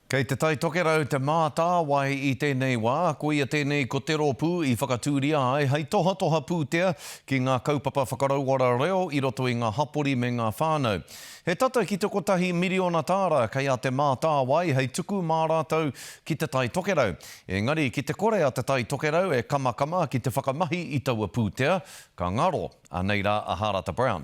Kei te Tai Tokerau Te Mātāwai i tēnei wā, koia tēnei ko te rōpū i whakatūria ai hei tohatoha pūtea ki ngā kaupapa whakarauora reo i roto i ngā hapori me ngā whānau. He tata ki te kotahi miriona tāra kei a Te Mātāwai hei tuku mā rātou ki te Tai Tokerau. Engari ki te kore a te Tai Tokerau e kamakama ki te whakamahi i taua pūtea, ka ngaro, anei rā a Hārata Brown.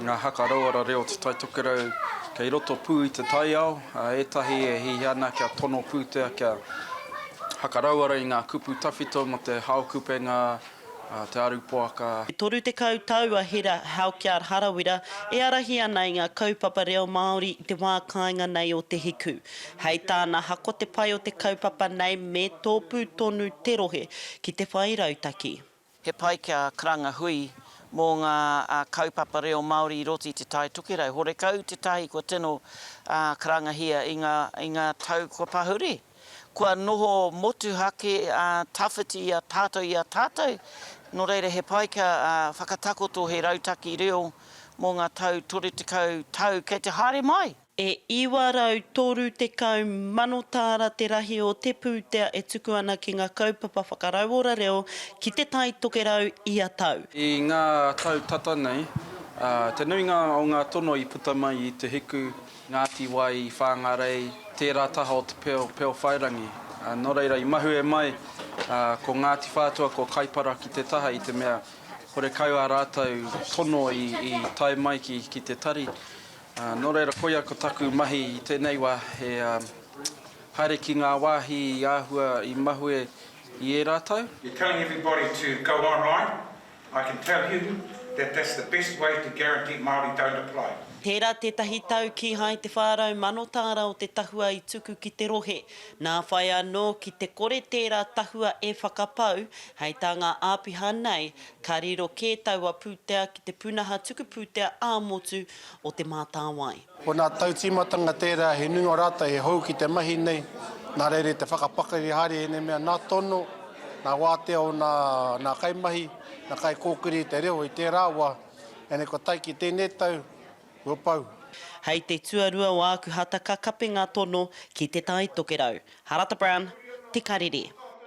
Ngā haka rauara reo Te Tai Tokerau kei roto pū i te taiao, ā, ētahi e hihia ana kia tono pūtea, kia haka rauara i ngā kupu tawhito mō te hao kupenga, te aru poaka. E 30 tau a Hera Halkyard Harawira e ārahi ana i ngā kaupapa reo Māori i te wā kāinga nei o Te Hiku. Hei tāna hako te pai o te kaupapa nei me tōpū tonu te rohe ki te whai rautaki. He pai kia karanga hui mō ngā kaupapa reo Māori i roto i Te Tai Tokerau. Horekau tētahi kua tino karangahia i ngā tau kua pahuri. Kua noho motuhake tawhiti i a tātou i a tātou, nō reira he pai kia whakatakoto he rautaki reo mō ngā tau 30 tau kei te haere mai. E 930,000 tāra te rahi o te pūtea e tuku ana ki ngā kaupapa whakarauora reo ki Te Tai Tokerau ia tau. I ngā tau tata nei, te nuinga o ngā tono i puta mai i Te Hiku, Ngāti Wai, Whāngarei, tērā taha o Te Peo, Peo Whairangi. Nō reira, i mahue mai ko Ngāti Whātua, ko Kaipara ki te taha i te mea horekau ā rātou tono i tae mai ki te tari. Nō reira, koia ko taku mahi i tēnei wā, he haere ki ngā wāhi i āhua i mahue i ērā tau. You're telling everybody to go online, I can tell you that that's the best way to guarantee Māori don't apply. Tērā tētahi tau kīhai te whā rau mano tāra o te tahua i tuku ki te rohe. Nā whai anō ki te kore tērā tahua e whakapau, hei tā ngā āpiha nei, Ka riro kē taua pūtea ki te pūnaha tuku pūtea ā-motu o Te Mātāwai. Ko ngā tautīmatanga tērā he nui o rātou he hou ki te mahi nei, nā reira i te whakapakari haere i ēnei mea nā tono, nā wātea o ngā kaimahi, ngā kaikōkiri i te reo i tērā wā, ēnei kua tae ki tēnei tau, kua pau. Hei te tuarua o āku hata ka kape ngā tono ki Te Tai Tokerau. Harata Brown, Te Karere.